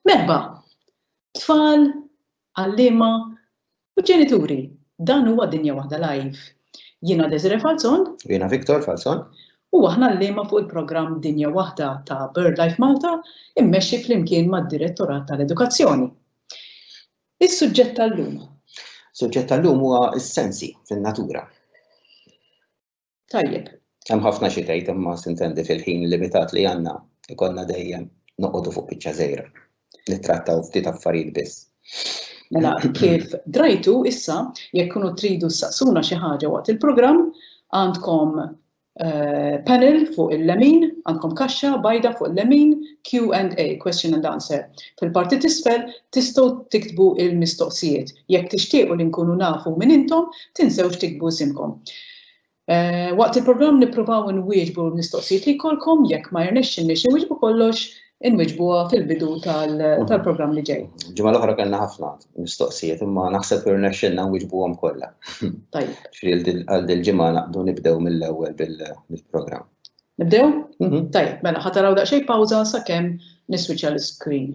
Merba, tfal, għallima u ġenituri, dan huwa dinja waħda live. Jiena Desiree Falzon. Jiena Viktor Falzon. U aħna l-lema fuq il-programm Dinja Waħda ta' BirdLife Malta immexxi flimkien mad-Direttorat tal-Edukazzjoni. Is-suġġett tal-lum. Suġġett tal-lum huwa s-sensi fin-natura. Tajjeb. Hemm ħafna xi tgħid imma sintendi fil-ħin limitat li għandna ikollna dejjem noqogħdu fuq biċċa żgħira. Nittrattaw ftit affarijiet biss. Mela kif drajtu issa jekk kunu tridu saqsuna xi ħaġa waqt il-programm għandkom eh, panel fuq il-lemin, għandkom kaxxa bajda fuq il-lemin Q&A, question and answer. Fil-parti tisfel tistgħu tiktbu il-mistoqsijiet. Jekk tixtiequ li nkunu nafu minn intom, Tinsewx tiktbu isimkom. Eh, waqt il-programm nippruvaw inwieġbu l-mistoqsijiet li jkollkom jekk ma jirnexxinniex inwieġbu kollox inwiġbuha fil-bidu tal-programm li ġej. Ġimgħa l-oħra kellna ħafna mistoqsijiet imma naħseb irnexxilna nwiġbuhom kollha. Tajjeb. Għal dil-ġimgħa naqdu nibdew mill-ewwel bil-programm. Nibdew? Mhm. Tajjeb, mela ħataraw daqsxejn pawża sakemm niswiċċa l-iskrin.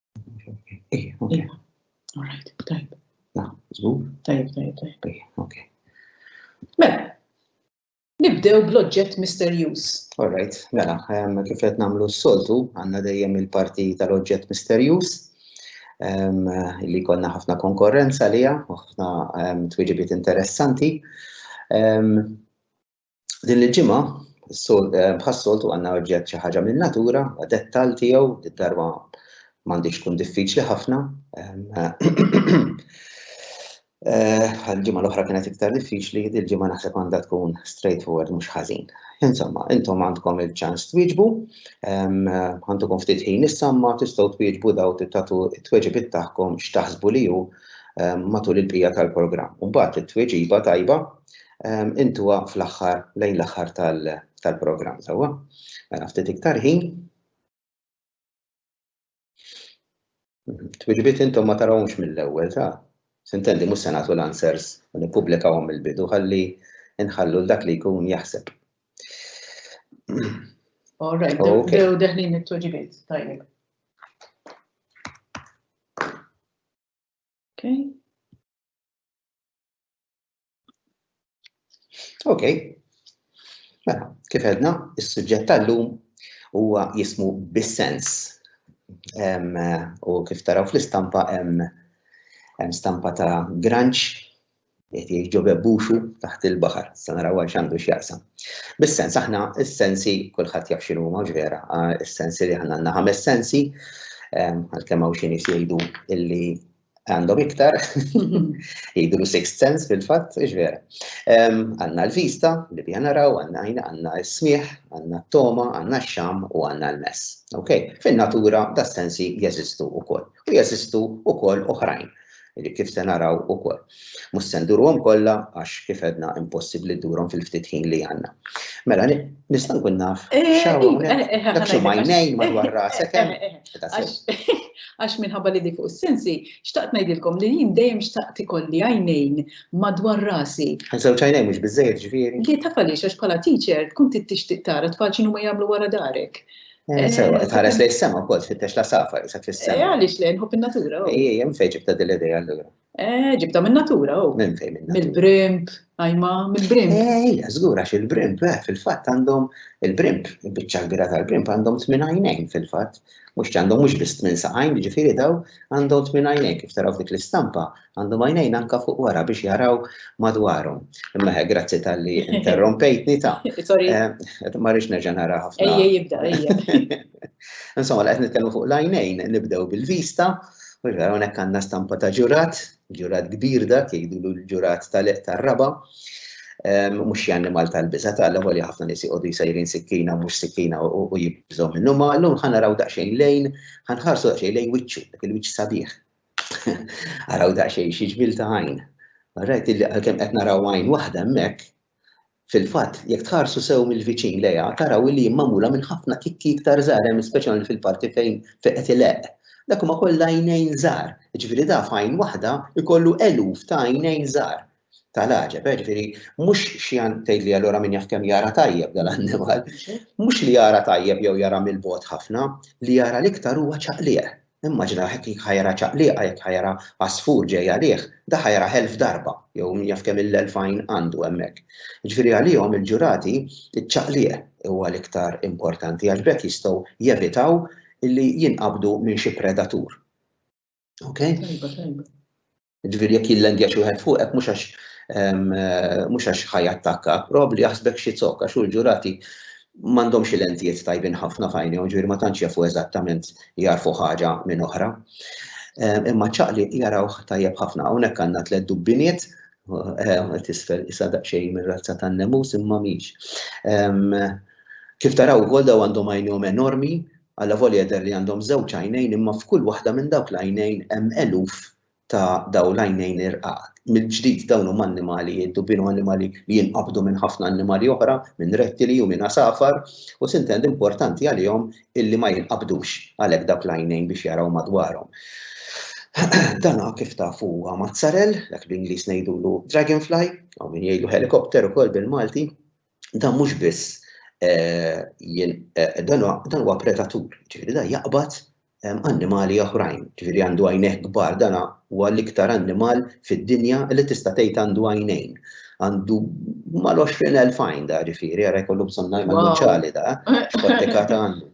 Ej, ok. All right, tajb. La, zgur? Tajb, tajb, tajb. Ej, ok. Mela, Nibdew bl-oġġett misterjuż. Alright, mela, ehm, kif qed nagħmlu s-soltu, għandna dejjem il-parti tal-oġġett misterjuż ehm, li konna ħafna konkorrenza liha, ħafna ehm, twiġibiet interessanti. Din il-ġimgħa eh, bħas-soltu għandna oġġett xi ħaġa minn natura, dettal tiegħu, id-darba m'għandix tkun diffiċli ħafna. Eh, għal-ġimgħa l-oħra kienet iktar diffiċli, il-ġimgħa naħseb għandha tkun straightforward mhux ħażin. Insomma, intom għandkom il-ċans twieġbu, għandkom ftit ħin issamma tistgħu twieġbu daw titatu t-tweġibit tagħkom x'taħsbu li hu matul il-bija tal-programm. Mbagħad it-tweġiba tajba intuha fl-aħħar lejn l-aħħar tal-programm sewwa. Mela ftit iktar ħin. Twiġbiet intom ma tarawhomx mill-ewwel ta' sintendi mhux se nagħtu l-answers u nippubblikawhom mill-bidu ħalli nħallu dak li jkun jaħseb. All right, dew deħlin it-tweġibiet tajjeb. Okay. Ok. Mela, kif edna, is-suġġett tal-lum huwa jismu bis-sens. U kif taraw fl-istampa hemm stampa ta' granċ qed jiġu bebbuxu taħt il-baħar, sa naraw għal x'għandu x'jaqsam. Bis-sens aħna s-sensi kulħadd jaf x'inhu huma vera, s-sensi li aħna għandna ħames sensi, għalkemm hawn xi nies jgħidu illi Għandhom iktar, jgħidu sixth sense fil-fatt, iġvera. Għanna l-vista, li bija naraw, għanna għajna, għanna s-smieħ, għanna t-toma, għanna x-xam u għanna l-mess. Ok, fin-natura da sensi jeżistu u koll. U jeżistu u koll uħrajn li kif se naraw u koll. Mus sendurom kolla għax kif edna impossibli durom fil-ftit ħin li għanna. Mela, nistan kun naf, eh, xawu, eh, eh, dak xumajnejn madwar rasek. Għax minħabba li di fuq is-sensi, xtaqt ngħidilkom li jien dejjem xtaqt ikolli għajnejn madwar rasi. Ħansew ċajnejn mhux biżejjed ġifieri. Li taf għaliex għax bħala teacher tkun tixtieq tara tfal x'inhu ma jagħmlu wara darek. Eh, sewa, eh, tħares lejn sema wkoll tfittex la safar, sa fis-sema. Eh, għaliex lejn ħobb in-natura. Oh. Ejja, mfejġib ta' dil-idea allura. Eh, ġibta minn natura, u. Oh. Minn fejn minn. Mill-brimp, għajma, mill-brimp. Eh, ja, zgura, il-brimp, eh, fil-fat għandhom il-brimp, bicċa kbira tal-brimp għandhom tmin għajnejn fil-fat. Mux għandhom mux biss tmin saqajn, ġifiri daw għandhom tmin għajnejn, kif taraw dik l-istampa, għandhom għajnejn anka fuq wara biex jaraw madwarhom. Imma grazzi tal-li interrompejtni ta' eh, ma rix nerġa' nara ħafna. Ejja jibda, ejja. Insomma, qed nitkellmu fuq l-għajnejn, nibdew bil-vista, u vera hawnhekk għandna stampa ta' ġurat, ġurat kbir dak, jgħidulu l-ġurat tal-eq tar-raba, ehm, mhux xi annimal tal-biża tal li ħafna nies jqogħdu jsejrin sikkina mhux sikkina u jibżgħu minnu ma llum ħa naraw daqsxejn lejn, ħa nħarsu daqsxejn lejn wiċċu, dak il-wiċċ sabiħ. Araw daqsxejn xi ġbil ta' għajn. Rajt li għalkemm qed naraw għajn waħda hemmhekk, Fil-fatt, jekk tħarsu sew mill-viċin lejha, taraw li hi magħmula minn ħafna kikki iktar żgħar hemm speċjalment fil-parti fejn fejn qed ileqq. Dak huma kollha għajnejn żgħar, jiġifieri da f'għajn waħda jkollu eluf ta' għajnejn żgħar. Ta' l-għaġeb, eh, ġifieri mhux xi għan tgħidli allura min jaf kemm jara tajjeb dal-annimal. Mhux li jara tajjeb jew jara mill-bogħod ħafna, li jara l-iktar huwa ċaqliq. Immaġina hekk jekk ħa jara ċaqliqa, jekk ħa jara għasfur ġej għalih, da ħa jarah elf darba, jew min jaf kemm-il elf għajn għandu hemmhekk. Jiġifieri għalihom il-ġurati, iċ-ċaqliq huwa l-iktar importanti għax b'hekk jistgħu jevitaw illi jinqabdu minn xi predatur. Okay? Tajba, tajba. Ġifieri jekk jillendja xi wieħed fuqek mhux għax mhux għax ħaj attakka, probabbli jaħsbek xi zokk għax hu l-ġurati m'għandhomx il-entijiet tajbin ħafna f'għajnejhom, ġifieri ma tantx jafu eżattament jagħrfu ħaġa minn oħra. Imma ċaqli jarawh tajjeb ħafna. Hawnhekk għandna tliet dubbiniet, tisfel isa daqsxejn mir-razza tan-nemus imma mhix. Kif taraw ukoll daw għandhom għajnejhom enormi, alla volja jidher li għandhom żewġ għajnejn imma f'kull waħda minn dawk l-għajnejn hemm eluf ta' dawn l-għajnejn irqaq. Mill-ġdid, dawn huma annimali jiddubinu, annimali li jinqabdu minn ħafna annimali oħra, minn rettili u minn għasafar, u sintendi importanti għalihom illi ma jinqabdux għalhekk dawk l-għajnejn biex jaraw madwarhom. Dan kif tafu huwa mazzarell, dak bl-Ingliż ngħidulu dragonfly, hawn min jgħidlu helicopter ukoll bil-Malti. dan mhux biss dan huwa predatur, ġifieri dan jaqbad annimali oħrajn, ġifieri għandu għajnejh kbar, dan huwa l-iktar annimal fid-dinja li tista' tgħid għandu għajnejn. Għandu mal-20 elf għajn da ġifieri, għara jkollu bżonn ngħidu ċali da, x'kottikata għandu.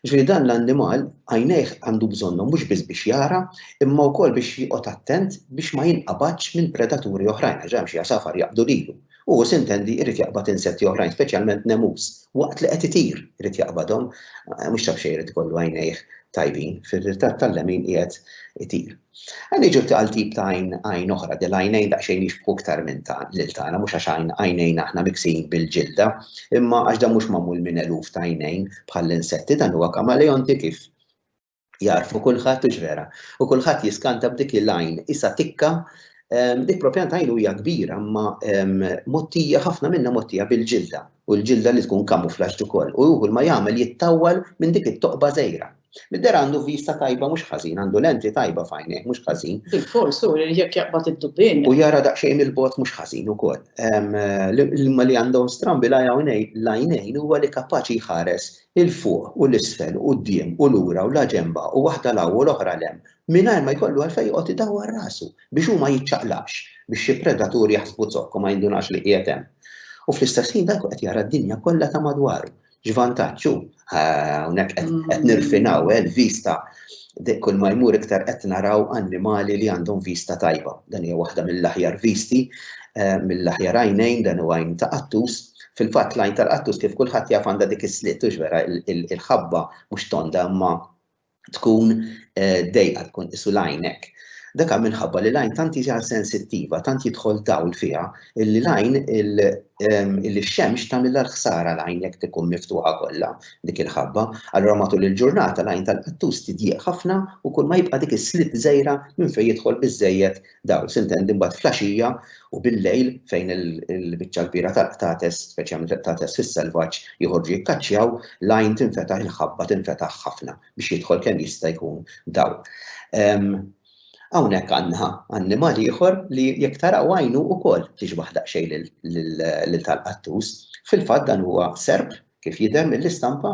Ġifieri dan l-annimal għajnejh għandu bżonnhom mhux biss biex jara, imma wkoll biex joqgħod attent biex ma jinqabadx minn predaturi oħrajn, għax hemm xi għasafar jaqbdu lilu. u hu sintendi jrid jaqbad insetti oħrajn, speċjalment nemus, waqt li qed itir irid jaqbadhom, mhux taf xejn irid ikollu għajnejh tajbin, fir-ritratt tal-lemin qiegħed itir. Għan niġu għal tip ta' għajn oħra, del għajnejn daqsxejn jixbħu iktar minn ta' lil tagħna, mhux għax għajnejn aħna miksijin bil-ġilda, imma għax dan mhux magħmul minn eluf ta' għajnejn bħall-insetti, dan huwa kamaleonti kif Jarfu kulħadd u vera. U kulħadd jiskanta b'dik il-lajn issa tikka ehm, dik propjant għajn hija kbira ma ehm, mottija ħafna minna mottija bil-ġilda u l-ġilda li tkun kamuflaġġ ukoll. U juhu ma jagħmel jittawwal minn dik it-toqba żejra. Midder għandu vista tajba mhux ħażin, għandu lenti tajba fajnek mhux ħażin. Il-fors u jekk jaqbad id-dubbin. U jara daqsxejn il-bot mhux ħażin ukoll. L-ma li għandhom strambi lajnejn huwa li kapaċi jħares 'il fuq u 'l isfel, quddiem u lura u la ġenba u waħda 'l hawn u l-oħra 'l hemm, mingħajr ma jkollu għalfejn joqgħod idawwar rasu biex hu ma jiċċaqlaqx, biex xi predatur jaħsbu zokk u ma jindunax li qiegħed hemm. U fl-istess ħin dan ikun qed jara d-dinja kollha ta' madwaru. X'vantaġġ hu? Hawnhekk qed nirfinaw, eh, l-vista kull ma jmur iktar qed naraw annimali li għandhom vista tajba. Dan hija waħda mill-aħjar visti, eh, mill-aħjar għajnejn, dan huwa għajn ta' qattus, Fil-fatt l-għajn tal-qattus kif kulħadd jaf għandha dik is-slitt hux vera il-ħabba mhux tonda imma tkun eh, dejqa tkun isu l-għajn hekk. Daka minħabba li lajn tant hija sensittiva, tant jidħol dawl fiha, li lajn il-xemx tagħmilha l-ħsara lajn jekk tikun miftuħa kollha dik il-ħabba. Allura matul il-ġurnata lajn tal-qattus tidjieq ħafna u kull ma jibqa' dik is-slit żejra minn fejn jidħol biżejjed Dawl s'intendi mbagħad flaxija u bil-lejl fejn il-biċċa l-kbira tal-qtates, speċjalment il-qtates fis-selvaġġ, joħorġu jikkaċċjaw, l-għajn tinfetaħ, il-ħabba tinfetaħ ħafna biex jidħol kemm jista' jkun dawl. Hawnhekk għandna annimal ieħor li jekk taraw għajnu wkoll tixbaħ daqsxejn lil tal-qattus. Fil-fatt dan huwa serp kif jidher mill-istampa,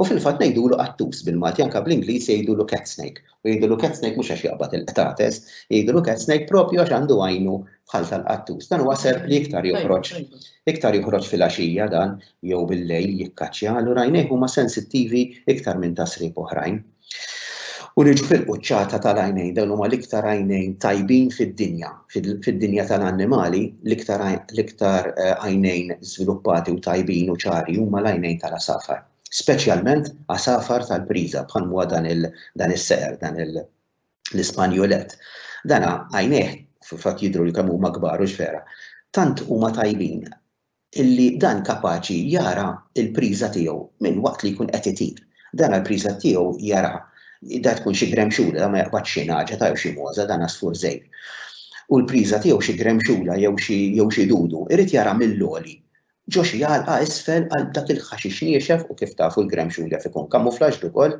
u fil-fatt ngħidulu qattus bil-Malti anke bl-Ingliż jgħidulu cat snake. U jgħidulu cat snake mhux għax jaqbad il-qtates, jgħidulu cat snake proprju għax għandu għajnu bħal tal-qattus. Dan huwa serp li iktar joħroġ iktar joħroġ fil-għaxija dan jew bil-lejl jikkaċċja, allura għajnejh huma sensittivi iktar minn ta' sriep oħrajn. U niġu fil-quċċata tal-għajnejn, dawn huma l-iktar għajnejn tajbin fid-dinja, fid-dinja tal-annimali, l-iktar l-iktar eh, għajnejn żviluppati u tajbin u ċari huma l-għajnejn tal-asafar. Speċjalment asafar tal-priża bħal huwa dan il dan is-seqer, dan l-Ispanjolet. Dana għajnejh fil-fatt jidru li kemm huma kbar u ġfera. Tant huma tajbin illi dan kapaċi jara l-priża tiegħu minn waqt li jkun qed itir. Dana l-priża tiegħu jaraha. Da tkun xi gremxula, da ma jaqbadx xi nagħġa ta' jew xi mogħża, dan għasfur żgħir. U l-priża tiegħu xi gremxula jew xi jew xi dudu, irid jara mill-għoli ġo xi għalqa isfel għal dak il-ħaxix niexef u kif tafu l-gremxul jaf ikun kamuflaġġd ukoll,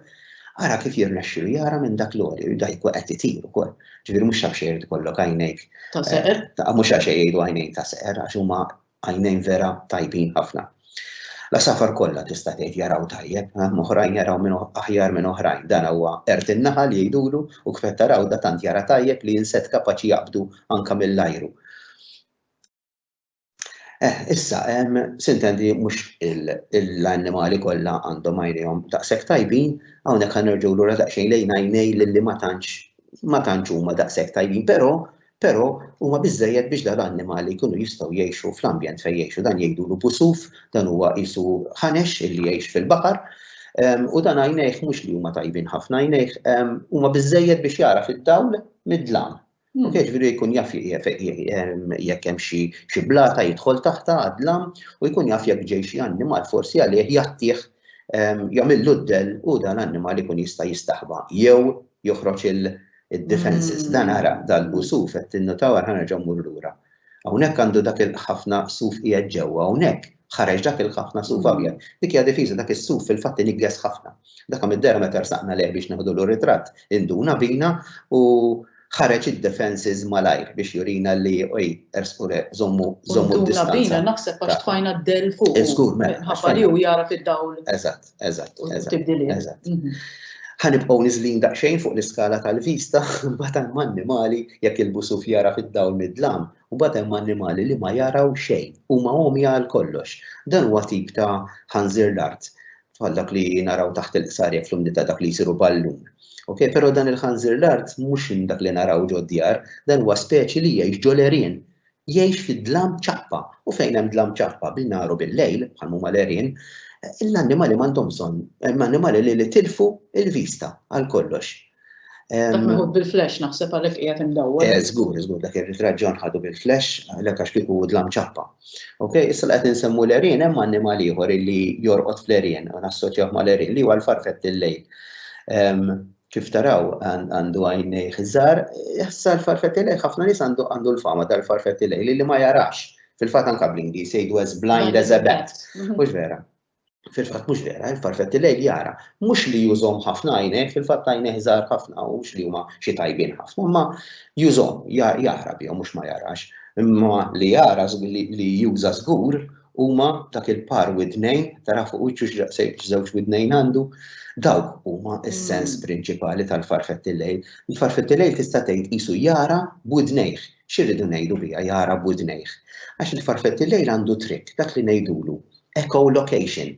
ara kif jirnexxilu jara minn dak l-għoli, da jkun qed itir ukoll. Ġifieri mhux xi xejn ikollok għajnejk. Ta' seqer? Mhux għax jgħidu għajnejn ta' seqer għax huma għajnejn vera tajbin ħafna. La safar kollha tista' tgħid jaraw tajjeb, oħrajn jaraw minn aħjar minn oħrajn. Dan huwa qert in-naħa li jgħidulu u kif qed taraw da tant jara tajjeb li jinset kapaċi jaqbdu anke mill-ajru. Eh, issa, sintendi mux l-annimali kollha għandhom għajnejhom daqshekk tajbin, hawnhekk għan nerġgħu lura daqsxejn lejn għajnej li ma tantx ma tantx huma daqshekk tajbin, però però huma biżejjed biex dal-annimali jkunu jistgħu jgħixu fl-ambjent fejn jgħixu dan jgħidulu busuf, dan huwa qisu ħanex illi jgħix fil-baħar. U dan għajnejh mhux li huma tajbin ħafna għajnejh huma biżejjed biex jara fid-dawl mid-dlam. Mhux hekk jiġifieri jkun jaf jekk hemm xi xi blata jidħol taħtha għad-dlam u jkun jaf jekk ġej xi annimal forsi għalih jgħattih jagħmillu d-dell u dan l-annimal ikun jista' jistaħba jew joħroġ il-defences. Dan ara dal-busuf qed tinnutaw ara ħa nerġa' mmur lura. Hawnhekk għandu dak il-ħafna suf qiegħed ġewwa, hawnhekk ħareġ dak il-ħafna suf abjad. Dik hija difiża, dak is-suf fil-fatt iniggħes ħafna. Daka mid-dehra meta rsaqna lejh biex neħdulu r-ritratt induna bina u ħareġ id-defences malajr biex jurina li ej ersqu le żommu żommu d-distanza. Induna bina naħseb għax tfajna d-dell fuq. Żgur mela. Ħabba li hu jara fid-dawl. Eżatt. Eżatt, eżatt. Mhm. Ħanibqgħu niżlin daqsxejn fuq l-iskala tal-vista, mbagħad hemm annimali jekk il-busuf jara fid-dawl mid-dlam, u mbagħad hemm annimali li ma jaraw xejn, huma għomja għal kollox. Dan huwa tip ta' ħanżir l-art, bħal dak li naraw taħt il-qsar jekk fl-umdità dak li jsiru ballun. Ok, però dan il-ħanżir l-art mhux dak li naraw ġod djar, dan huwa speċi li jgħix ġolerien Jgħix fid-dlam ċappa, u fejn hemm dlam ċappa bin-nhar u bil-lejl, bħal huma l-għerien, l-annimali m'għandhom bżonn, hemm annimali li li tilfu l-vista għal kollox. Dak meħud bil-flash naħseb għalhekk qiegħed imdawwar. Eh, żgur, żgur, dak ir-ritratt ġon ħadu bil-flash għalhekk għax kieku dlam ċappa. Ok, issa qed insemmu l-erien hemm annimal ieħor li jorqod fl-erien u nassoċjaw mal-erien li huwa l-farfett il-lejl. Kif taraw, għandu għajnejh iż-żgħar, issa l-farfetti lejh, ħafna nies għandu għandu l-fama tal-farfetti lejh li li ma jarax. Fil-fatt anke bl-Ingliż jgħidu as blind as a bat. Mhux vera. Fil-fatt mhux vera, il-farfetti lejh jara. Mhux li jużhom ħafna għajnejh, fil-fatt għajnejh żgħar ħafna u mhux li huma xi tajbin ħafna, imma jużhom, jara bihom mhux ma jarax. Imma li jara li juża żgur, Huma dak il-par widnejn, tara fuq wiċċu x'żewġ widnejn għandu, dawk huma s-sens prinċipali tal-farfetti lejl. Il-farfetti lejl tista' tgħid qisu jara b'widnejh. X'irridu ngħidu biha jara b'widnejh? Għax il-farfetti lejl għandu trikk, dak li ngħidulu echolocation.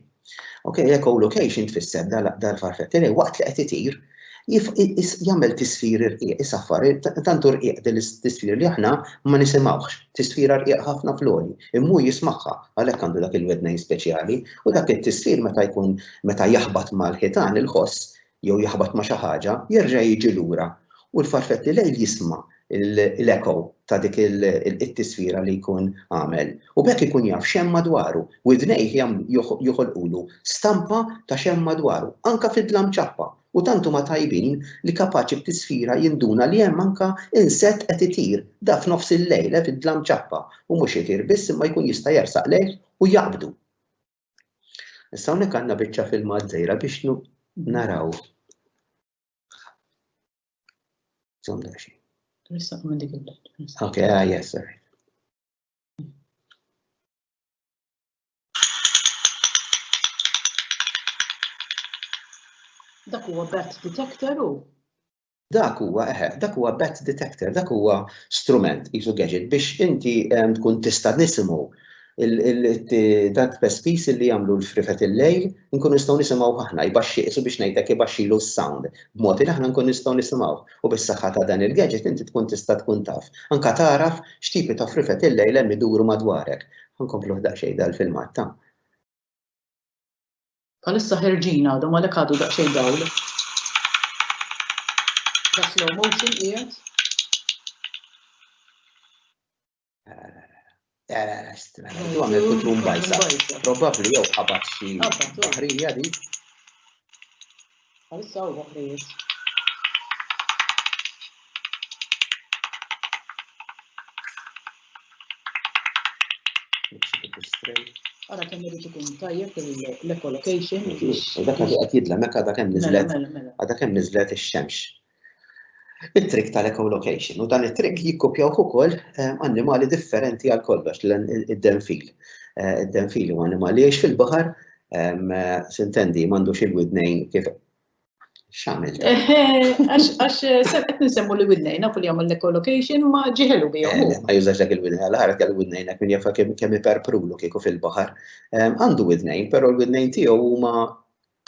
Ok, l-echolocation tfisser dal-farfetti li waqt li qed itir jagħmel tisfir irqiq, isaffar, tantu rqiq din l-tisfir li aħna ma nisimgħux, tisfira rqiq ħafna floli, immu jismagħha għalhekk għandu dak il-wednejn speċjali u dak it-tisfir meta jkun meta jaħbat mal-ħitan il-ħoss jew jaħbat ma' xi ħaġa, jerġa' jiġi lura u l-farfett li lejl jisma' l-echo ta' dik it-tisfira li jkun għamel u b'hekk ikun jaf x'hemm madwaru. Widnejh joħolqulu stampa ta' x'hemm madwaru, anke fid-dlam ċappa, u tant huma tajbin li kapaċi b'tisfira jinduna li hemm anke insett qed itir, da f'nofs il-lejl, fid-dlam ċappa, u mhux itir biss imma jkun jista' jersaq lejh u jaqbdu. Issa hawnhekk għandna biċċa filmat żgħira biex naraw. Zom daxi. Rissa minn dik il-belt. Ok, ah, yes, sir. Dak huwa bat detector u Dak huwa, eħe, dak huwa bat detector, dak huwa strument, qisu gadget, biex inti tkun tista' nisimgħu dak pespis li jagħmlu l-frifet il-lejl, nkunu nistgħu nisimgħuh aħna, jbaxxi, qisu biex ngħidlek ibaxxilu s-sound, b'mod li aħna nkunu nistgħu nisimgħuh. U bis-saħħa ta' dan il-gadget inti tkun tista' tkun taf, anke tagħraf x'tipi ta' frifet il-lejl hemm iduru madwarek. Ħa nkompluh daqsxejn dal-filmat, ta. Bħalissa ħerġin għadhom għalhekk għadu daqsxejn dawl. Da slow motion qiegħed. Tu għamil kutrum bajsa. Probabli jew ħabat xi ħrija di. Għalissa u għafrijiet. Ara kemm irid ikun tajjeb l-ecolocation. Dak li qed jidla meka dak hemm niżlet. Mela, mela, mela. Dak hemm niżlet ix-xemx. it-trick tal-echolocation u dan it-trick jikkopjawh ukoll annimali differenti għal kollox id-denfil. Id-denfil huwa annimali jgħix fil-baħar, sintendi m'għandux il-widnejn kif x'għamil. Għax qed nsemmu li widnejn nafu li jagħmel l-echolocation ma ġiħelu bihom. Ma jużax dak il-widnejn għal ħaret għal widnejn hekk min jafa' kemm iperprulu kieku fil-baħar. Għandu widnejn, però l-widnejn tiegħu huma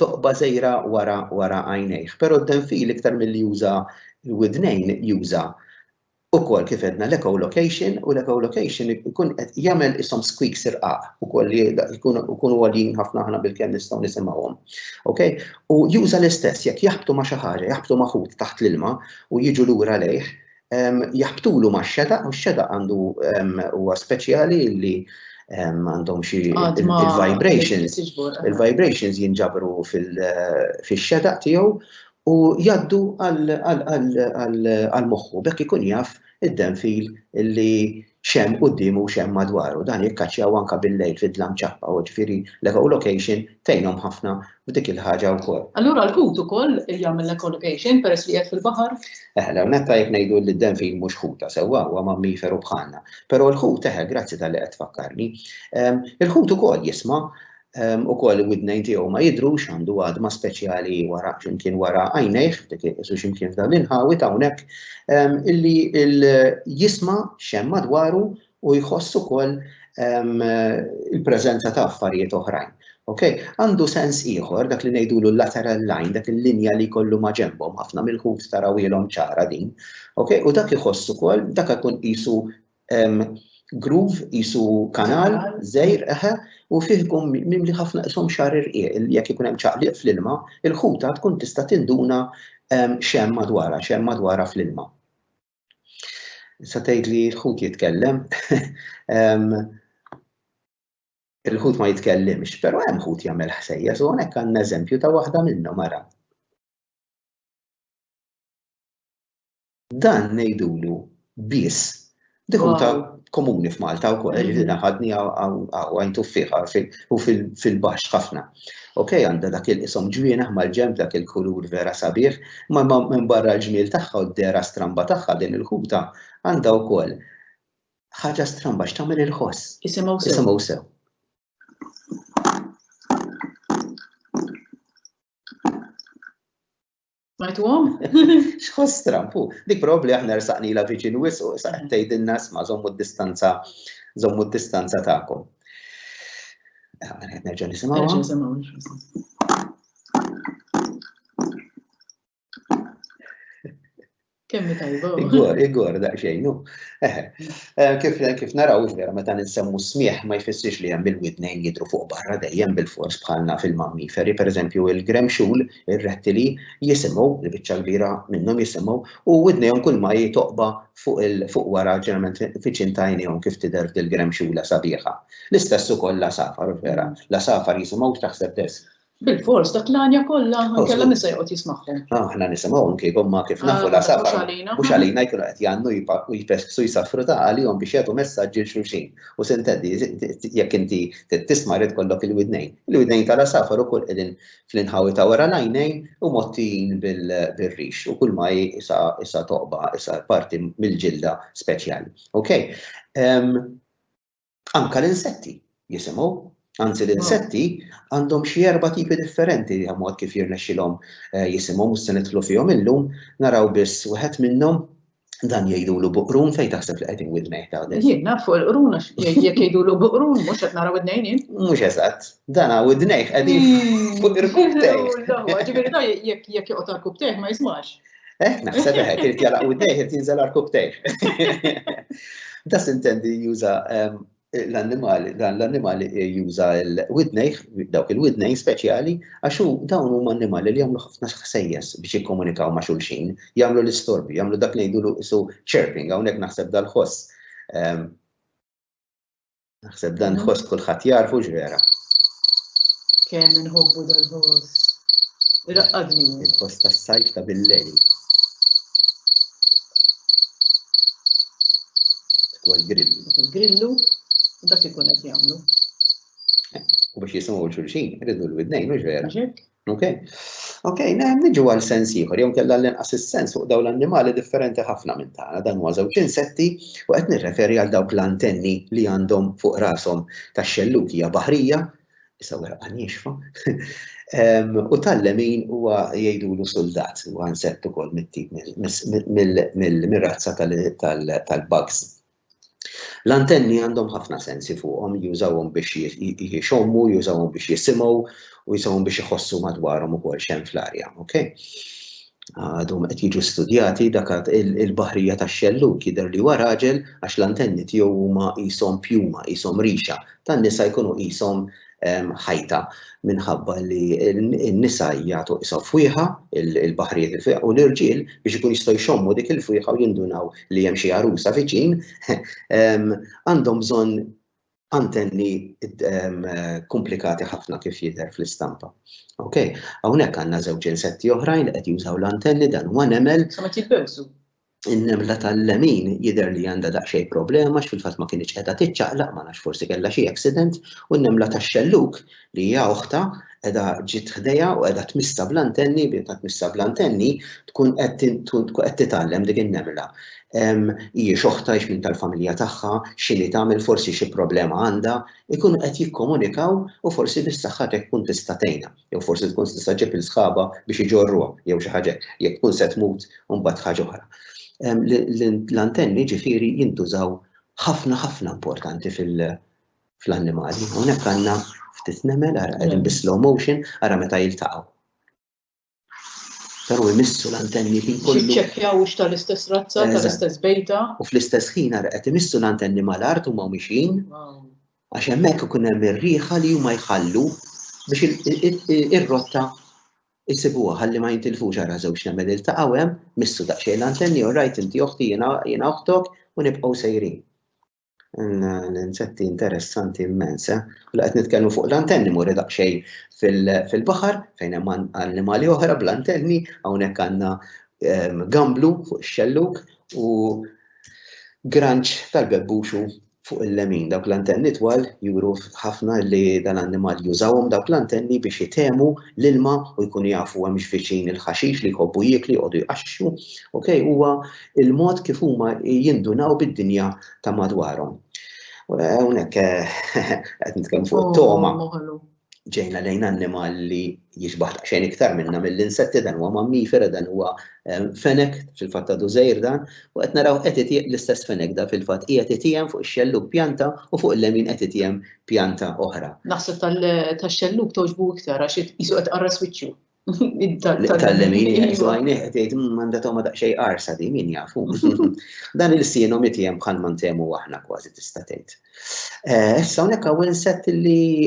toqba' sejra wara wara għajnejh. Però d-denfil iktar milli juża l-widnejn juża ukoll kif għedna l-echolocation u l-echolocation ikun qed jagħmel ishom squeaks irqaq ukoll li jkunu għoljin ħafna aħna bilkemm nistgħu nisimgħuhom. Okay? U juża l-istess jekk jaħbtu ma' xi ħaġa, jaħbtu ma' ħut taħt l-ilma u jiġu lura lejh, jaħbtulu ma' xeda, u xeda għandu huwa speċjali li għandhom xi il-vibrations. Il-vibrations jinġabru fil-xeda tiegħu u jaddu għal-moħħu, bekk ikun jaf id-denfil li x'hemm quddiemu u x'hemm madwaru. Dan jikkaċċjaw anke bil-lejl fid-dlam ċappa u ġifieri l-echolocation tgħinhom ħafna f'dik il-ħaġa wkoll. Allura l-ħut ukoll jagħmel l-echolocation peress li qiegħed fil-baħar? Eħe, l-ewwel nett tajjeb ngħidu li d-denfin mhux ħuta sewwa, huwa mammiferu bħalna. Però l-ħut, eħe, grazzi talli qed tfakkarni. Il-ħut ukoll jisma' Ukoll il-widnejn tiegħu ma jidhrux, għandu għadma speċjali wara x'imkien wara għajnejh, dik isu x'imkien f'dawn l-inħawi ta' hawnhekk, illi jisma' x'hemm madwaru u jħoss ukoll il-preżenza ta' affarijiet oħrajn. Ok? Għandu sens ieħor dak li ngħidulu l-lateral line, dak il-linja li jkollu ma' ġenbhom, ħafna mill-ħut tarawhielhom ċara din. Ok? U dak iħoss ukoll, dak ikun qisu Groove qisu kanal, żgħir, eħe, u fih ikun mimli ħafna qishom xar irqieq, jekk ikun hemm ċaqliq fl-ilma, il-ħuta tkun tista' tinduna x'hemm madwarha, x'hemm madwarha fl-ilma. Issa tgħid li l-ħut jitkellem. Il-ħut ma jitkellimx, però hemm ħut jagħmel ħsejjes u hawnhekk għandna eżempju ta' waħda minnhom ara. Dan ngħidulu biss dikunta komuni f'Malta u koll, ġifiri naħadni għajn tuffiħa u fil-bax ħafna. Ok, għanda dak il-isom ġwina ħmal ġemp dak il-kulur vera sabiħ, ma minn barra l-ġmil taħħa u d-dera stramba taħħa din il-ħuta għanda u koll ħaġa stramba x'tagħmel il-ħoss. Isimgħu sew. Isimgħu sew. Smajtuhom? X'ħoss Trump hu? Dik probabbli aħna rsaqnila viċin wis u sa qed tgħidilna isma' żommu d-distanza żommu d-distanza tagħkom. Nerġa' nisimgħu. Kemmi tajba. Igor, igor, daqxejn, u. Eh, eh, kif, kif naraw, vera, meta ninsemmu smieħ ma jfissirx li hemm il-widnejn jidru fuq barra dejjem bil-fors bħalna fil-mammiferi, per eżempju, il-gremxul, il-rettili, jisimgħu, il-biċċa kbira minnhom jisimgħu, u widnejhom kull ma jitoqba fuq il fuq wara ġeneralment fiċin tajnihom kif tidher dil-gremxula sabiħa. L-istess ukoll la safar, vera, la safar jisimgħu taħseb des, Bil-fors, dak l-għanja kollha kellha min se joqgħod jismagħhom. Aħna nisimgħu anke huma kif nafu la safa. Mhux għalina jkunu qed jgħannu u jpessu jsaffru ta' għalihom biex jagħtu messaġġi xulxin. U se nteddi jekk inti tisma' rid kollok il-widnejn. Il-widnejn ta' la safar ukoll qegħdin fl-inħawi ta' wara l-għajnejn u mgħottin bil-rix u kull ma hi isa toqba, isa parti mill-ġilda speċjali. Okay? Anka l-insetti jisimgħu. Anzi l-insetti għandhom xi erba' tipi differenti li mod kif jirnexxilhom eh, jisimgħu mhux se nidħlu fihom illum, naraw biss wieħed minnhom dan jgħidulu buqrun fejn taħseb li qegħdin widnej ta' din. Jien naf fuq il-qrun għax jekk jgħidulu buqrun mhux qed naraw id-nejn jien. Mhux eżatt, dan hawn id-nejn qegħdin fuq il-kubtej. Ġifieri jekk jekk joqgħod għall-kubtej ma jismax. Eh, naħseb eħek, irid jala u dejh, irid jinżel arkub tejh. Da sintendi juża ehm, l-annimali, dan l-annimali juża l-widnejh, dawk il-widnejh speċjali, għax dawn huma annimali li jagħmlu ħafna ħsejjes biex jikkomunikaw ma' xulxin, jagħmlu l-istorbi, jagħmlu dak ngħidulu isu chirping, hawnhekk naħseb dal-ħoss. Ehm, Naħseb dan mm. ħoss kulħadd jarfu ġvera. Kemm inħobbu dal-ħoss. Irraqqadni. Il-ħoss tas-sajf ta' bil-lejl. Tkwa l-grillu. Il-grillu, dak ikun qed jagħmlu. U biex jisimgħu l-xulxin, irridu l-widnejn, mhux vera. Ok. Ok, niġu għal sens ieħor, jew kellha l-inqas is-sens fuq dawn l-annimali differenti ħafna minn tagħna. Dan huwa żewġ insetti u qed nirreferi għal dawk l-antenni li għandhom fuq rashom tax-xellukija baħrija, issa wara għanjixfa, u tal-lemin huwa jgħidulu soldat, huwa insett ukoll mit-tip mill-razza tal-bugs. L-antenni għandhom ħafna sensi fuqhom, jużawhom biex jixommu, jużawhom biex jisimgħu u jużawhom biex iħossu madwarhom ukoll x'hemm fl-arja, ok? Għadhom qed jiġu studjati dak il-baħrija tax-xellug jidher li huwa raġel għax l-antenni tiegħu huma qishom pjuma, qishom rixa, tan-nisa jkunu qishom ħajta minħabba li n-nisa jagħtu isa fwieħa il-baħrijiet il fwieħa u l-irġiel biex ikun jistgħu jxommu dik il-fwieħa u jindunaw li hemm xi għarusa viċin għandhom bżonn antenni komplikati ħafna kif jidher fl-istampa. Ok, hawnhekk għandna żewġ insetti oħrajn qed jużaw l-antenni dan huwa nemel. Sa ma jitbewsu. in-nemla tal-lemin jidher li għandha daqsxejn problema għax fil-fatt ma kinitx qiegħda tiċċaqlaq ma nafx forsi kellha xi accident u n-nemla tax-xelluk li hija oħta qiegħda ġiet ħdejha u qiegħda tmissa bl-antenni bi ta' tmissa bl-antenni tkun qed titgħallem dik in-nemla. Hijiex oħta hix minn tal-familja tagħha, x'inhi tagħmel forsi xi problema għandha, ikunu qed jikkomunikaw u forsi bis-saħħa tiegħek tkun tista' tgħinha. jew forsi tkun tista' ġġib il sħaba biex iġorruha jew xi ħaġa jekk tkun se tmut u mbagħad ħaġa oħra. L-antenni ġifieri jintużaw ħafna ħafna importanti fil-annimali. Hawnhekk għandna ftit nemel ara qegħdin bi slow motion ara meta jiltaqgħu. Però imissu l-antenni ħin kollu. Ċekkjaw ux tal-istess razza, tal-istess bejta. U fl-istess ħin ara qed imissu l-antenni mal-art u ma' mixin. għax hemmhekk ikun hemm ir-riħa li huma jħallu biex ir-rotta jsibuha ħalli ma jintilfux ara żewġ nemel iltaqgħu hemm, missu daqsxejn l-antenni, u rajt inti oħti jiena oħtok u nibqgħu sejrin. L-insetti interessanti immens, eh? U laqgħet nitkellmu fuq l-antenni muri daqsxejn fil-baħar fejn hemm annimali oħra bl-antenni, hawnhekk għandna ehm, gamblu fuq ix-xelluk u granċ tal-bebbuxu fuq il-lemin. Dawk l-antenni twal juru ħafna li dal-annimal jużawhom dawk l-antenni biex jitemu l-ilma u jkunu jafu hemm x'viċin il-ħaxix li jħobbu jiekli jqogħdu jqaxxu. Okay? Huwa il-mod kif huma jindunaw bid-dinja ta' madwarhom. Hawnhekk eh, qed nitkellmu fuq oh, toma. ġejna lejn annimal li jiġbaħ xejn iktar minna mill-insetti dan huwa mammifera dan huwa ehm, fenek fil-fatt ta' dużejr dan u qed naraw qed itieq l-istess fenek da fil-fatt qiegħed itiehem fuq ix-xelluk pjanta u fuq il-lemin qed itiehem pjanta oħra. Naħseb tax-xelluk toġbu iktar għax isu qed qarras wiċċu. Tal-lemin, jgħajnih, iva. tgħid mm, għandha toma daqsxejn qarsa di min jafu. Dan il-sienu miti hemm bħal ma ntemu aħna kważi tista' tgħid. Eh, issa hawnhekk hawn inset li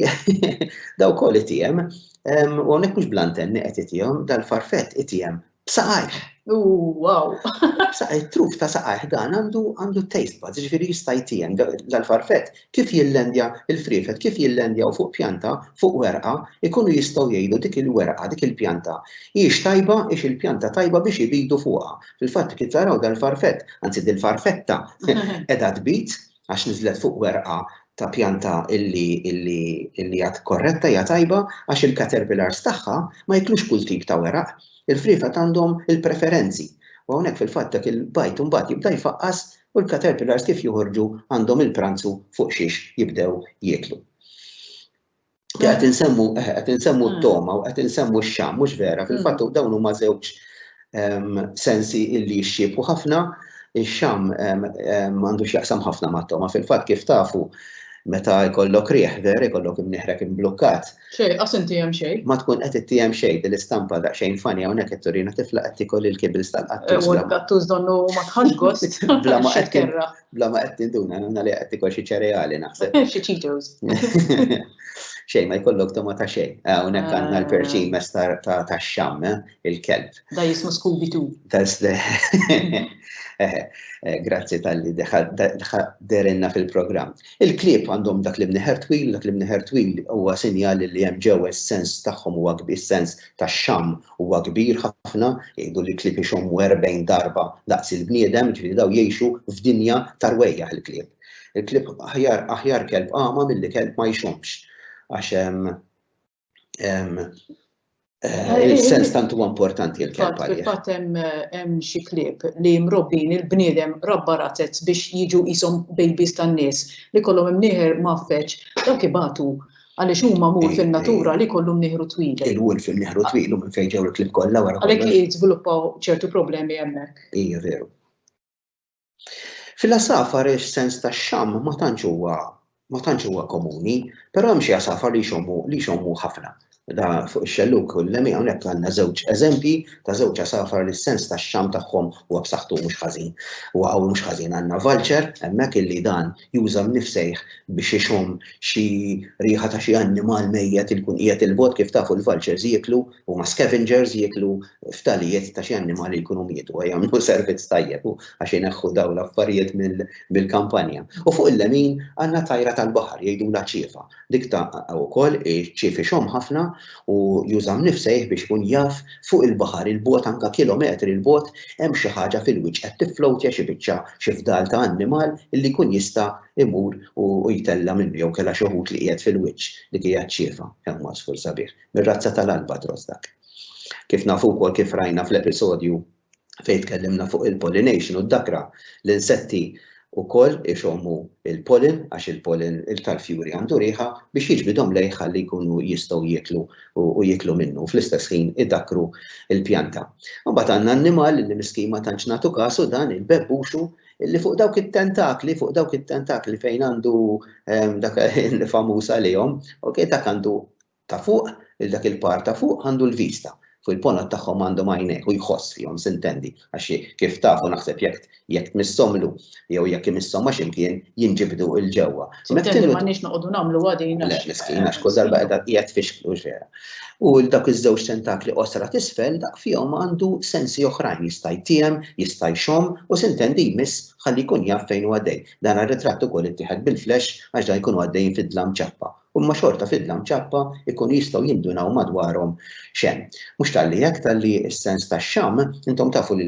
daw kol itiem, u hawnhekk mhux blantenni qed itihom dal-farfett itiem b'saqajh. Wow! Saqaj truf ta' saqajh dan għandu għandu taste buds, ġifieri jista' jtiem dal-farfett Kif jillandja, Il-friefet kif jillandjaw fuq pjanta, fuq werqa, ikunu jistgħu jgħidu dik il-werqa, dik il-pjanta, hijiex tajba, hijiex il-pjanta tajba biex ibidu fuqha. Fil-fatt, kif taraw dal-farfett, anzi dil-farfetta, qiegħda tbid għax niżlet fuq werqa ta' pjanta li hija korretta, hija tajba, għax il-caterpillars tagħha ma jiklux kull tip ta' weraq. Il-friefet għandhom il-preferenzi. U hawnhekk fil-fatt dak il-bajd imbagħad jibda jfaqqas U l-caterpillars kif joħorġu għandhom il-pranzu fuq xiex jibdew jieklu. Qed insemmu eh, qed insemmu hmm. t-toma u qed insemmu x-xam, mhux vera, hmm. fil-fatt dawn huma żewġ ehm, sensi illi jixxiebħu ħafna, ix-xam ehm, ehm, għandu x'jaqsam ħafna mat-toma, fil-fatt kif tafu meta jkollok rieħ ver, jkollok imniħrek imblukkat, Xej, qas inti hemm xej. Ma tkun qed ittiehem xej din l-istampa daqsxejn fani hawnhekk qed turina tifla qed tikol il-kibils tal-qattus. U l-qattus donnu ma tħax gost. Bla ma qed kerra. Bla ma qed tinduna nagħmel li qed tikol xi ċereali naħseb. Xi Cheetos. Xejn ma jkollok toma ta' xejn. Hawnhekk ah, għandna l-perċin ah. mes ta' xam, eh, il-kelb. Da jismu Scooby Doo. Eh, eh, grazzi tal-li derenna fil-programm. Il-klieb għandhom dak l-imneħer twil u dak l-imneħer twil huwa sinjal li hemm ġewwa s-sens tagħhom huwa kbir, s-sens tax-xamm huwa kbir ħafna, jgħidu li l-klieb ixommu erbgħin darba daqs il-bniedem, jiġifieri dawn jgħixu f'dinja ta' rwejjaħ il-klieb. Il-klieb aħjar aħjar kelb agħma milli kelb ma jxommx għax Il-sens tant huwa importanti l-kelb għalih. Fatt hemm xi klieb li mrobbin il-bniedem rabba razez biex jiġu qishom babies tan-nies li kollhom imnieħer mgħaffeġ dawk ibatu għaliex huma mur fin-natura li kollhom nieħru twil. Il-wolf fin-nieħru twil minn fejn ġew il-klieb kollha wara. Għalhekk jiżviluppaw ċertu problemi hemmhekk. Hija veru. Fil-għasafar is-sens tax-xamm ma tantx huwa ma tantx huwa komuni, però hemm xi għasafar li jxommu li jxommu ħafna. Da fuq ix-xelluk u l-lemi hawnhekk għandna żewġ eżempji ta' żewġ għasafar li s-sens tax-xamm tagħhom huwa b'saħħtu mhux ħażin. U hawn mhux ħażin għandna vulture hemmhekk illi dan juża l-mifsejħ biex ixomm xi riħa ta' xi annimal mejjet li jkun qiegħed 'il bogħod, kif tafu l-vultures jieklu, huma scavengers, jieklu ftalijiet ta' xi annimali li jkunu mietu, jagħmlu servizz tajjeb għax ineħħu dawn l-affarijiet mill-kampanja. U fuq il-lemin għandna tajra tal-baħar jgħidulha ċiefa. Dik ta' wkoll iċ-ċief ixomm ħafna u juża mnifsejh biex ikun jaf fuq il-baħar 'il bogħod anke kilometri 'l bogħod hemm xi ħaġa fil-wiċċ qed tifflowtja xi biċċa, xi fdal ta' annimal illi jkun jista' imur u jtella' minnu jew kellha xi ħut li qiegħed fil-wiċċ. Dik hija ċ-ċiefa, hemm għasfur sabiħ, mir-razza tal-albatros dak. Kif nafu wkoll kif rajna fl-episodju fejn tkellimna fuq il-pollination u d-dakra, l-insetti wkoll ixommu l-pollen għax il-pollen tal-fjuri għandu riħa biex jiġbidhom lejh ħalli jkunu jistgħu jieklu u jieklu minnu u fl-istess ħin idakkru l-pjanta. Imbagħad għandna annimal li miskin ma tantx nagħtu kasu dan il-bebbuxu li fuq dawk it-tentakli, fuq dawk it-tentakli fejn għandu ehm, dak il-famuż għalihom, ok, dak għandu ta' fuq, lil dak il-par ta' fuq għandu l-vista, fuq il-ponot tagħhom għandhom għajnejh, hu jħoss fihom, sintendi, għax kif tafu naħseb jekk jekk tmisshomlu jew jekk imisshom ma' x'imkien jinġibdu 'l ġewwa. Sintendi, m'għandniex noqogħdu nagħmluha din għax. Le, miskin, għax kull darba qiegħda hija tfixklu, hux vera? U dawk iż-żewġ tentakli qosra t'isfel daqq fihom għandu sensi oħrajn, jista' jtiehem, jista' jxomm u sintendi jmiss ħalli jkun jaf fejn hu għaddej. Dan ar-ritratt ukoll ittieħed bil-flash għax dan jkunu għaddejjin fid-dlam ċappa Huma xorta fidla mċappa jkunu jistgħu jindunaw madwarhom x'hemm. Mhux talli hekk, talli s-sens tax-xamm, intom tafu li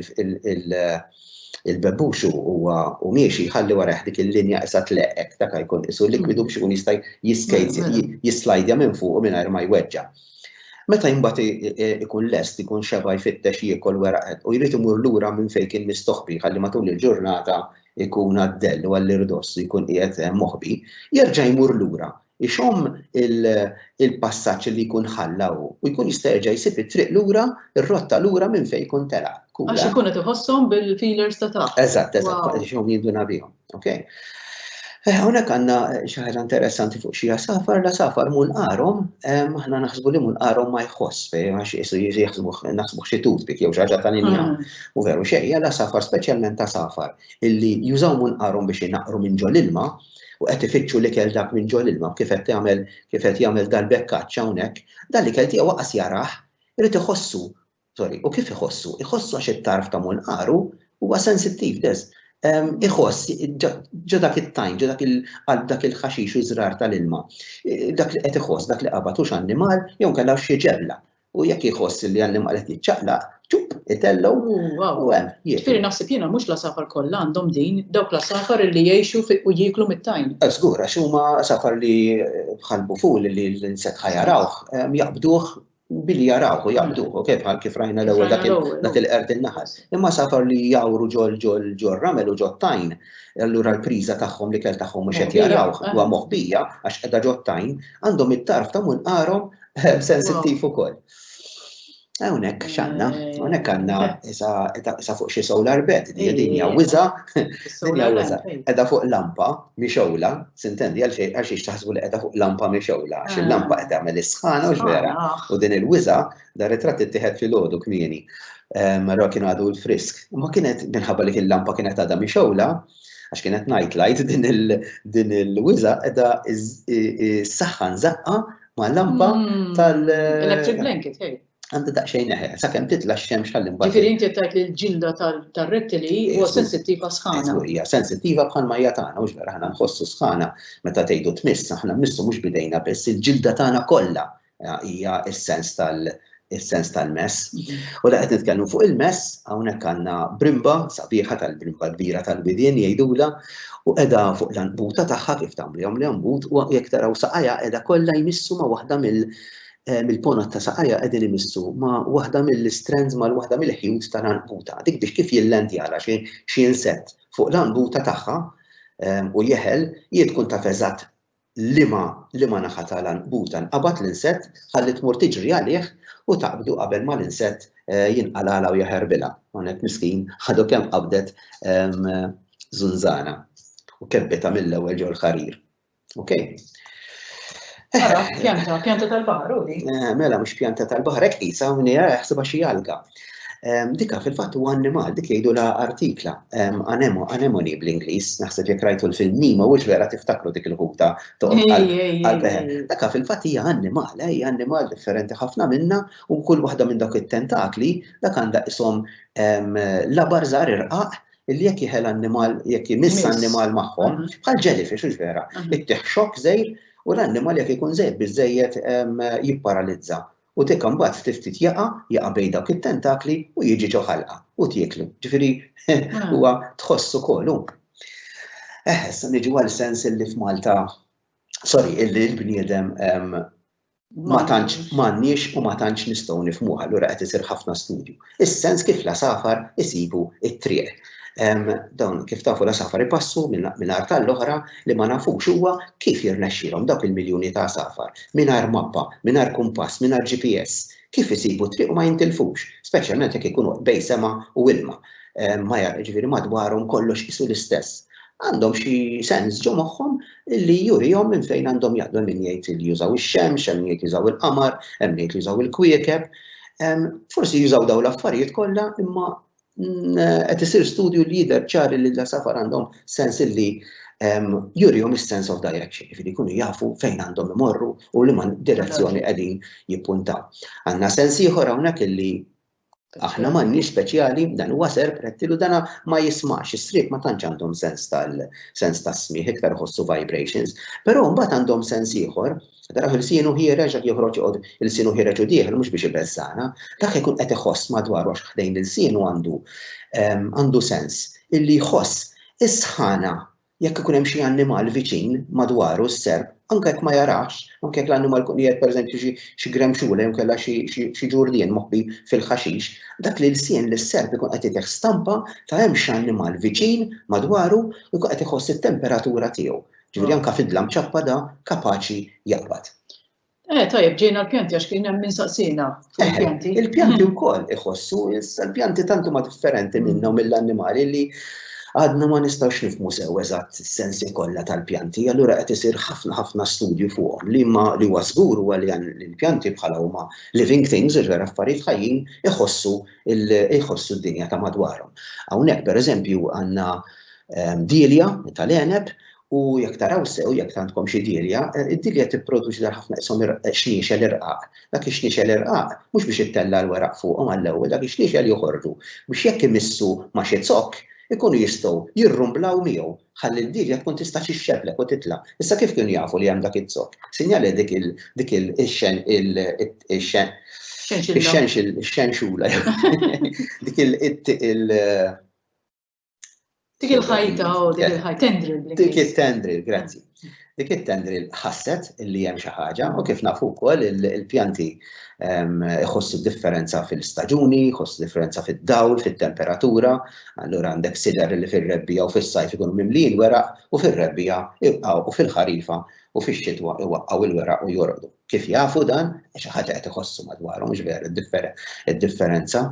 l-bebbux huwa u miexi jħalli warajh dik il-linja qisha tleqq hekk, dak jkun qisu likwidu biex ikun jista' jislajdja minn fuqu mingħajr ma jweġġa'. Meta imbagħad ikun lest, ikun xeba' jfittex jiekol weraq u jrid imur lura minn fejn kien mistoħbi ħalli matul il-ġurnata ikun għad-dell u għall-irdoss ikun qiegħed moħbi, jerġa' jmur lura, ixomm il-passaġġ li jkun ħalla hu u jkun jista' jerġa' jsib it-triq lura, ir-rotta lura minn fejn jkun telaq. Għax ikun qed iħosshom bil-feelers ta' taħt. Eżatt, eżatt, għax ixomm jinduna bihom. Okay? Hawnhekk għandna xi ħaġa interessanti fuq xi safar, la safar mul qarhom, aħna naħsbu li mul qarhom ma jħoss, għax isu jiġi naħsbu xi toothpick jew xi ħaġa tal-injam. U veru xejn, għal għasafar, speċjalment għasafar, illi jużaw munqarhom biex inaqqru minn ġol ilma u qed ifittxu l-ikel dak minn ġol ilma kif qed jagħmel kif qed jagħmel dal-bekkaċċ hawnhekk, dan l-ikel tiegħu waqas jarah, irid iħossu, sorry, u kif iħossu? Iħossu għax it-tarf ta' munqaru huwa sensittiv dez. Ehm, iħoss ġo dak it-tajn, ġo dak il-qalb dak il-ħaxix u żrar tal-ilma. E, dak li qed iħoss, dak li qabad hux annimal jew kellha xi ġebla u jekk jħoss li għandim għalet jitċaqlaq, ċup, itellow, u għem, jiet. Firi naħseb jena mux la safar kolla għandhom din, dawk la safar li jiexu u jiklu mit-tajn. Zgur, għax huma safar li bħalbu fuq li l-inset ħajarawħ, jaqbduħ billi jarawħu, jaqbduħu, kif bħal kif rajna l-ewel dak il-qert il-naħas. Imma safar li jawru ġol ġol ġol ramel u ġol tajn, allura l-priza tagħhom li kell tagħhom mhux qed jarawh huwa moħbija għax qiegħda ġol tajn, għandhom it-tarf ta' mun qarhom Sensittiv ukoll. Hawnhekk x'għandna, hawnhekk għandna isa fuq xi solar bed, din hija wiża, din hija wiża. Qiegħda fuq lampa mixewla, sintendi għal xejn għax taħsbu li qiegħda fuq lampa mixewla, għax il-lampa qed tagħmel is-sħana u x'vera. U din il-wiża dar ritratt ittieħed fil-għodu kmieni. Marra kien għadu l-frisk. Ma kienet minħabba li il-lampa kienet għadha mixewla, għax kienet night light din il-wiza edha s-saxħan zaqqa Ma' lampa mm. tal. Electric blanket, hey. Għandu daqxejn eħe, sa' kem titla xemx għallim bħal. Ġifiri inti tajt li l-ġilda tal-rettili huwa sensittiva sħana. Hija sensittiva bħal ma hija tagħna, mhux vera ħana nħossu sħana meta tgħidu tmiss, aħna missu mhux bidejna biss il-ġilda tagħna kollha eh, hija s-sens tal- is-sens tal-mess. U da qed nitkellmu fuq il-mess, hawnhekk għandna brimba sabiħa tal-brimba kbira tal-widien jgħidula u qiegħda fuq l-anbuta tagħha kif tagħmlihom li anbut u jekk taraw saqajja qiegħda kollha jmissu ma' waħda mill eh, mill-ponot ta' saqajja qegħdin imissu ma' waħda mill-strands ma' waħda mill-ħjut tal-anbuta. Dik biex kif jillendjala xi insett fuq l-anbuta tagħha eh, u jeħel jien tkun taf eżatt liema liema naħa ta' l-għanqbuta nqabad l-insett, ħalli tmur tiġri għalih u taqbdu qabel ma l-insett jinqalgħalha u jaħerbilha. Hawnhekk miskin għadu kemm qabdet żunżana u kebbitha mill-ewwel ġo l-ħarir. Okay? Mela, pjanta tal-baħar u di. Eh, mela, mux pjanta tal-baħar, ek isa, minni, eh, xsiba xie alga. Ehm, dika fil-fatt huwa annimal, dik jgħidu la artikla, ehm, anemo, anemoni bl-Ingliż, naħseb jekk rajtu l-film Nima, u vera tiftakru dik il-ħuta toqgħod Daka fil-fatt hija annimal, eh, hija annimal differenti ħafna minna u kull waħda minn dawk it-tentakli dak għandha ishom ehm, la barżar irqaq illi jekk jħel annimal, jekk jmiss annimal magħhom, mhm. bħal jellyfish, ux vera, mhm. it-teħxok zejr u l-annimal jekk ikun zejr bizzejiet jipparalizza. U Teka mbagħad ftit ftit jaqa', jaqa' bejn dawk it-tentakli u jiġi ġo ħalqa u tieklu. Ġifieri huwa tħoss ukoll hu. Eħe, issa niġu għal sens illi f'Malta, sorry, illi l-bniedem ma tantx m'għandniex u ma tantx nistgħu nifhmuh, allura qed isir ħafna studju. is-sens kif l-għasafar isibu t-triq. Dawn kif tafu l-għasafar ipassu minn art tal-oħra li ma nafux huwa kif jirnexxilhom dawk il-miljuni ta' għasafar mingħajr mappa, mingħajr kumpass, mingħajr GPS, kif isibu t-triq u ma jintilfux, speċjalment jekk ikunu bejn sema u ilma. Ma ġifieri madwarhom kollox qisu l-istess. għandhom xi sens ġo moħħhom li jurihom minn fejn għandhom jaqdu min jgħid li jużaw ix-xemx, hemm jgħid jużaw il-qamar, hemm jgħid jużaw il-kwiekeb. Forsi jużaw dawn l-affarijiet kollha imma mm, qed isir studju li jidher ċari li l-safar għandhom sens li jurihom is-sense of direction, jifieri jkunu jafu fejn għandhom imorru u li man direzzjoni qegħdin jippuntaw. Għandna sens ieħor hawnhekk illi Aħna m'għandniex speċjali, dan huwa serp, rettilu, dan ma jismax, is-sriep ma tantx għandhom sens tal sens tas-smigħ, iktar iħossu vibrations. Però mbagħad għandhom sens ieħor, taraw ilsienu ħiereġ dak joħroġ joqgħod ilsienu ħiereġ u dieħel mhux biex ibeżżagħna, dak ikun qed iħoss madwaru għax ħdejn ilsienu għandu għandu sens illi jħoss is-sħana jekk ikun hemm xi annimal viċin madwaru s-serp, anke jekk ma jarahx, anke jekk l-annimal ikun qiegħed pereżempju xi xi gremxula jew inkella xi xi xi ġurdien moħbi fil-ħaxix, dak l-ilsien li s-serp ikun qed jitih stampa ta' hemm x'annimal viċin madwaru u jkun qed iħoss it-temperatura tiegħu. Ġifieri anke fid-dlam ċappad hu kapaċi jaqbad. Eh, tajjeb, ġejna l-pjanti għax kien hemm insaqsina fuq il-pjanti. Eh, il-pjanti mm. wkoll iħossu, issa l-pjanti tantu ma differenti mm. minna u mill-annimali li għadna ma nistgħux nifmu sew eżatt sensi kollha tal-pjanti, allura qed isir ħafna ħafna studju fuqhom li ma li huwa żgur huwa li l-pjanti bħala huma living things, iġver affarijiet ħajjin iħossu iħossu d-dinja ta' madwarhom. Hawnhekk pereżempju għandna ehm, dilja tal-eneb U jekk taraw sew, jekk għandkom xi dirja, eh, id-dirja tipproduċi dal ħafna isom eh, xniexel irqaq. Dak ix-xniexel irqaq mhux biex ittella l-weraq fuqhom għall-ewwel, dak ix-xniexel joħorġu biex jekk imissu ma' xi zokk ikunu jistgħu jirrumblaw miegħu ħalli d-dirja tkun tista' xixxeblek u titla'. Issa kif kienu jafu li hemm dak iż-zokk? Sinjali dik il dik il xen il xen il xenxula dik il Dik il-ħajta, u oh, dik il-ħajta, tendril. Dik il-tendril, grazzi. Dik il-tendril ħasset li hemm xi ħaġa u kif nafu wkoll il-pjanti ehm, ħossu differenza fil-staġuni, ħossu differenza fid-dawl, fit-temperatura, allura għandek sider li fir-rebbija u fis-sajf ikunu mimlijin weraq u fir-rebbija u fil-ħarifa u fix-xitwa iwaqqgħu l-weraq u jorqdu. Kif jafu dan? Xi ħaġa qed iħossu madwarhom, mhux veru, id-differenza.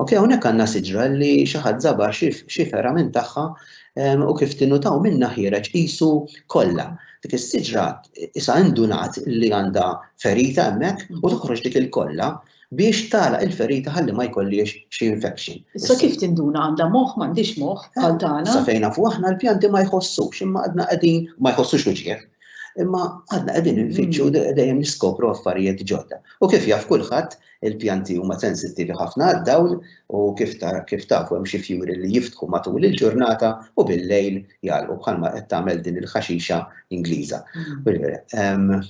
Ok, hawnhekk għandna siġra li xi ħadd żabar xi ferra minn tagħha ehm, u kif tinutaw minna ħireġ qisu kollha. Dik is-siġra isa indunat li għandha ferita hemmhekk u toħroġ dik il-kollha biex tagħlaq il-ferita ħalli ma jkollhiex xi infection. Issa kif tinduna għandha moħħ m'għandhiex moħħ bħal tagħna? Sa fejn nafu aħna l-pjanti ma jħossux imma għadna qegħdin ma jħossux uġieħ. Imma għadna qegħdin infittxu mm. dejjem niskopru affarijiet ġodda. U kif jaf kulħadd il-pjanti huma sensittivi ħafna għad-dawl u kif kif tafu hemm xi fjuri li jiftħu matul il-ġurnata u bil-lejl jgħalqu bħalma qed tagħmel din il-ħaxixa Ingliża. Mm.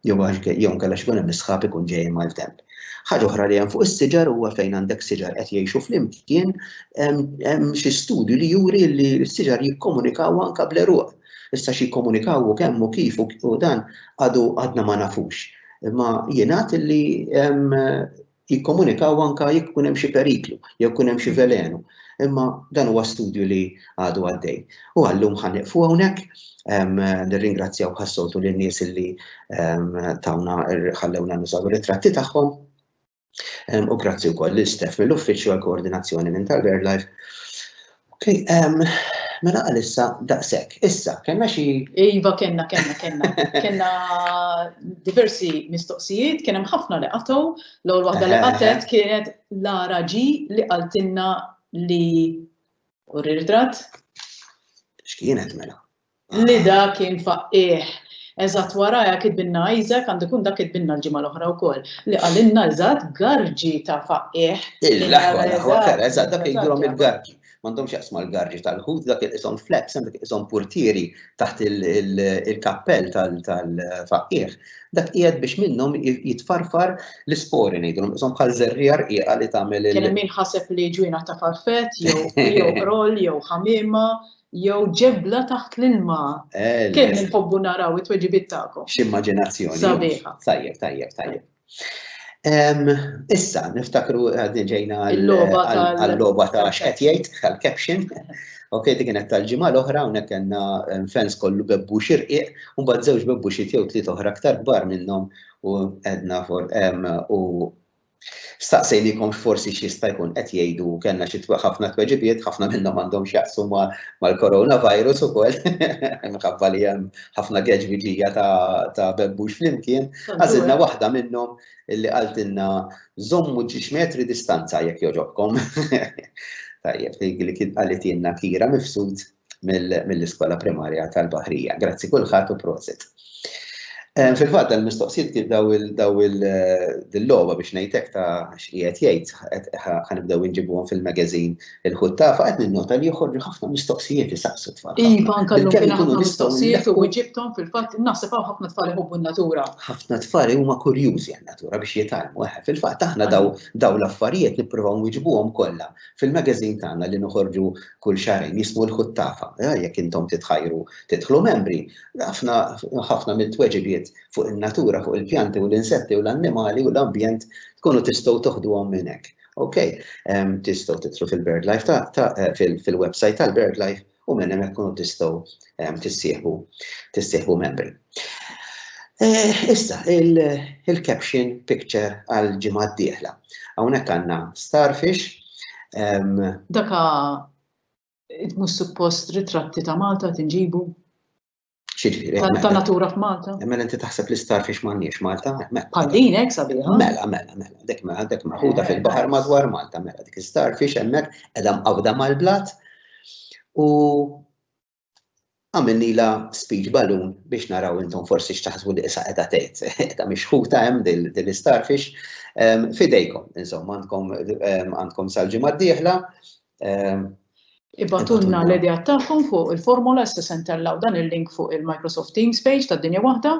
Jew għax jew inkella x'ikun hemm is-sħab ikun ġej ma' temp. Ħaġa oħra li hemm fuq is-siġar huwa fejn għandek siġar qed jgħixu flimkien hemm xi studju li juri li s-siġar jikkomunikaw anke bl-għeruq. Issa xi jikkomunikaw u kemm u kif u dan għadu għadna ma nafux. Imma jingħad li jikkomunikaw anke jekk ikun hemm xi periklu, jew ikun hemm xi velenu. Imma dan huwa studju li għadu għaddej. U għallum ħa nieqfu hawnhekk, nirringrazzjaw bħas-soltu lin-nies li tawna ħallewna nużaw ir-ritratti tagħhom. U grazzi wkoll lil Steph mill-uffiċċju għall-koordinazzjoni minn tal-BirdLife. Mela għalissa daqshekk. Issa, kellna xi. Iva, kellna, kellna, kellna. Kellna diversi mistoqsijiet, kien hemm ħafna li qatgħu, l-ewwel waħda li qatet kienet Lara G li qaltilna li u ritratt. X'kienet mela? Lida kien faqqiegħ. Eżatt wara hekk itbinna Isaac, għandu jkun dak itbinna l-ġimgħa l-oħra wkoll, li qalilna eżatt garġi ta' faqqiegħ. L-aħwa, l-aħwa vera, eżatt dak jgidulhom il-garġi. M'għandhomx x'jaqsmu mal-garġi tal-Lhud, dak iqishom fleps, hemm dak iqishom purtieri taħt il-kappell tal-faqqiegħ. Dak qiegħed biex minnhom jitfarfar l-ispori ngħidulhom, iqishom bħal żerriegħa rqiqa li tagħmel il-. Kien hemm min ħaseb li ġwienaħ ta' farfett jew qrol jew ħamiema Jew ġebla taħt l-ilma. Kemm inħobbu naraw it-tweġibiet tagħkom. X'immaġinazzjoni. Sabiħa. Tajjeb, tajjeb, tajjeb. Issa, niftakru għadni ġejna għal-loba ta' xqed jgħid, għal-caption. Ok, dik kienet tal-ġimgħa l-oħra hawnhekk kellna fans kollu bebbu xirqiq, u mbagħad żewġ bebbu xi jew tliet oħra aktar kbar minnhom u għedna for u Staqsejnikom x'forsi x'jista' jkun qed jgħidu u kellna xi ħafna tweġibiet, ħafna minnhom għandhom x'jaqsmu mal-coronavirus ukoll, minħabba li hemm ħafna geġbiġija ta' bebbux flimkien. Għażilna waħda minnhom li qaltilna żommu ġiex metri distanza jekk jogħġobkom. Tajjeb, li kien qalitilna Kira Mifsud. mill-iskola primarja tal-Baħrija. Grazzi kulħadd u prosit. Eh, fil-fatt dan mistoqsijiet kif daw il-logħba eh, biex ngħidlek ta' x'qiegħed jgħid ħanibdew inġibuhom fil-magazine il-ħuttafa qed ninnota li joħorġu ħafna mistoqsijiet isaqsu tfal. Iva, nkallum kien ħafna mistoqsijiet u ġibthom fil-fatt naħseb hawn ħafna tfal iħobbu n-natura. Ħafna tfal huma kurjużi għan-natura biex jitalmu. Eh, fil-fatt aħna daw l-affarijiet nippruvaw nwiġbuhom kollha Fil-magazine tagħna li noħorġu kull xahrejn jismu l-Ħuttafa, eh, jekk intom titħajru tidħlu membri, ħafna ħafna mill-tweġibiet fuq in-natura, fuq il-pjanti u l-insetti u l-annimali u l-ambjent tkunu tistgħu toħduhom minn hekk. Ok, tistgħu titlu fil-BirdLife ta' eh, fil-website tal-BirdLife u minn hemmhekk tkunu tistgħu ehm, tissieħbu tissieħbu membri. Eh, issa, il-caption picture għal ġimgħa d-dieħla. Hawnhekk għandna starfish. Ehm, Daka mhux suppost ritratti ta' Malta tinġibu? Ta' natura f'Malta. Mela inti taħseb li star fiex m'għandniex Malta? Mela. Bħal din hekk sabiħa. Mela, mela, mela. Dek mela, dek maħuda eh, fil-baħar madwar Malta, mela dik star fiex hemmhekk qiegħda mqawda mal-blat u għamilni la speech balloon biex naraw intom forsi xtaħsbu li issa qiegħda tgħid, qiegħda mixħuta hemm din istarfix. Fidejkom, insomma, għandkom għandkom sal-ġimgħa d-dieħla Ibgħatulna l-ideat tagħkom fuq il-formola, issa se ntellgħu dan il-link fuq il-Microsoft Teams page ta' Dinja Waħda.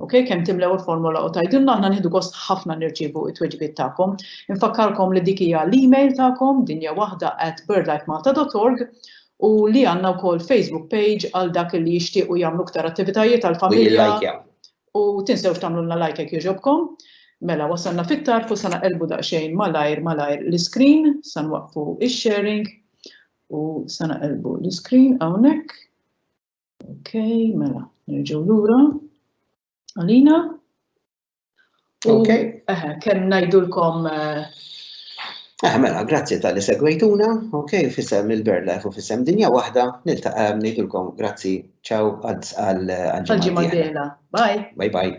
Okay, kemm timlew il-formola u tajdilna aħna nieħdu gost ħafna nirċievu it-tweġibiet tagħkom. Infakkarkom li dik hija l-email tagħkom dinja waħda at birdlifemalta.org u li għandna wkoll Facebook page għal dak li jixtiequ jagħmlu iktar attivitajiet għall-familja. U tinsewx tagħmlulna like jekk jogħġobkom. Mela wasalna fit-tarf u sa naqelbu daqsxejn malajr malajr l-iskrin, sa nwaqqfu ix-sharing u sa naqelbu l-iskrin hawnhekk. Ok, mela, nerġgħu lura. Alina. Ok. Kemm ngħidulkom Eh, mela, grazzi tal-li segwejtuna, ok, fissem il-BirdLife u fissem dinja wahda, niltaqa nejtulkom, grazzi, ċaw, għadz għal-ġimma. Bye. Bye bye.